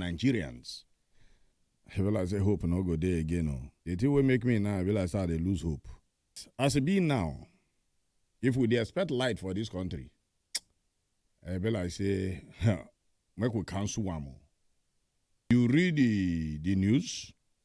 nigerians i be like say hope no go dey again o the thing wey make me now i be like say i dey lose hope as e be now if we dey expect light for dis country i be like say make we cancel am o you read the the news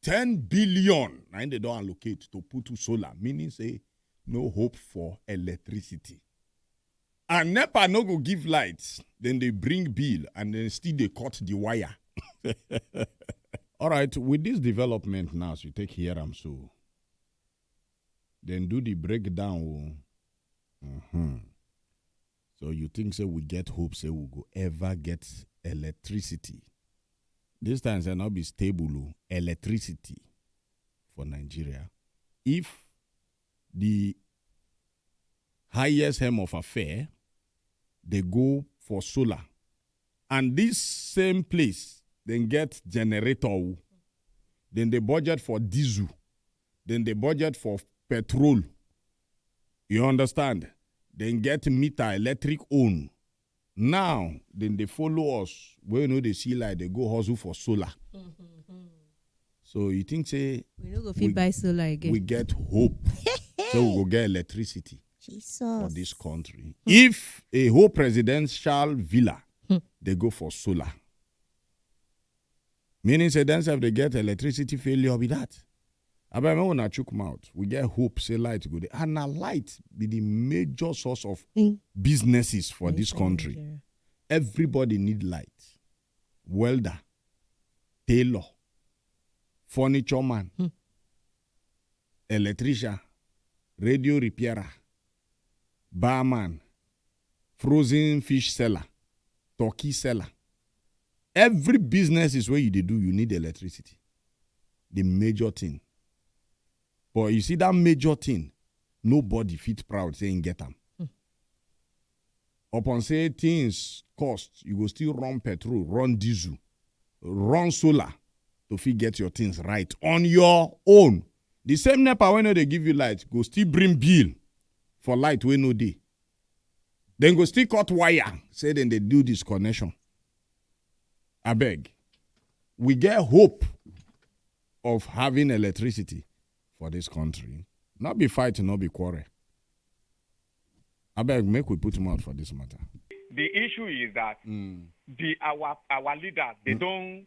ten billion na im dey don allocate to put solar meaning say no hope for electricity and nepa no go give light dem dey bring bill and dem still dey cut the wire all right with this development now as you take hear am so dem do the breakdown o. Mhm. So you think say we get hope say we go ever get electricity? This time say not be stable o, electricity for Nigeria. If the highest hem of affair dey go for solar and this same place dem get generator o, dem dey budget for diesel, dem dey budget for petrol, You understand? Dem get meter electric own. Now, dem dey follow us wey we no dey see light dey go hustle for solar. So you think say we no go fit We- buy solar again we get hope say we go get electricity for Jesus. this country? If a whole presidential villa dey go for solar, Meaning say dem sef dey get electricity failure be that? Abeg make una chook mouth, we get hope say light go dey and na light be the major source of mm. businesses for this country. Everybody need light. Welder, tailor, furniture man, hmm. electrician, radio repairer, barman, frozen fish seller, turkey seller. Every business is where you dey do, you need electricity. The major thing. But you see that major thing, nobody fit proud say him get am. Mm. Upon say things cost, you go still run petrol, run diesel, run solar to fit get your things right on your own. The same NEPA wey no dey give you light go still bring bill for light wey no dey. dem go still cut wire say dem dey do disconnection abeg we get hope of having electricity for dis country no be fight no be quarrel abeg make we put mouth for dis matter. the issue is that mm. the our our leaders they mm. don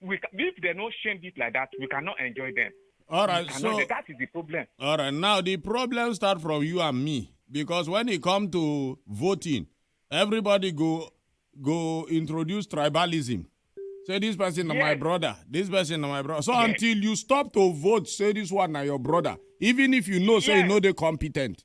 we ca- if they no shame it like that, we cannot enjoy them. All right, We cannot- so that is the problem. all right. Now the problem start from you and me because when it come to voting, everybody go go introduce tribalism. Say this person na my Yes. brother. This person na my brother. So Yes. until you stop to vote, say this one na your brother, even if you know say you Yes. know they competent.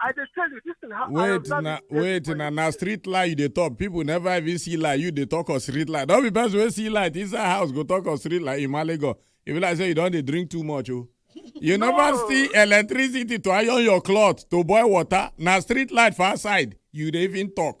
I dey tell you, this thing happen. Wait, na, wait, na, na street lie you dey talk. People never even see lie. You dey talk of street lie. Don't be best way see light inside house. Go talk of street lie in Malego. If you like say you don't dey drink too much, oh. You no. never see electricity to iron your cloth, to boil water. Na street light for outside. You dey even talk.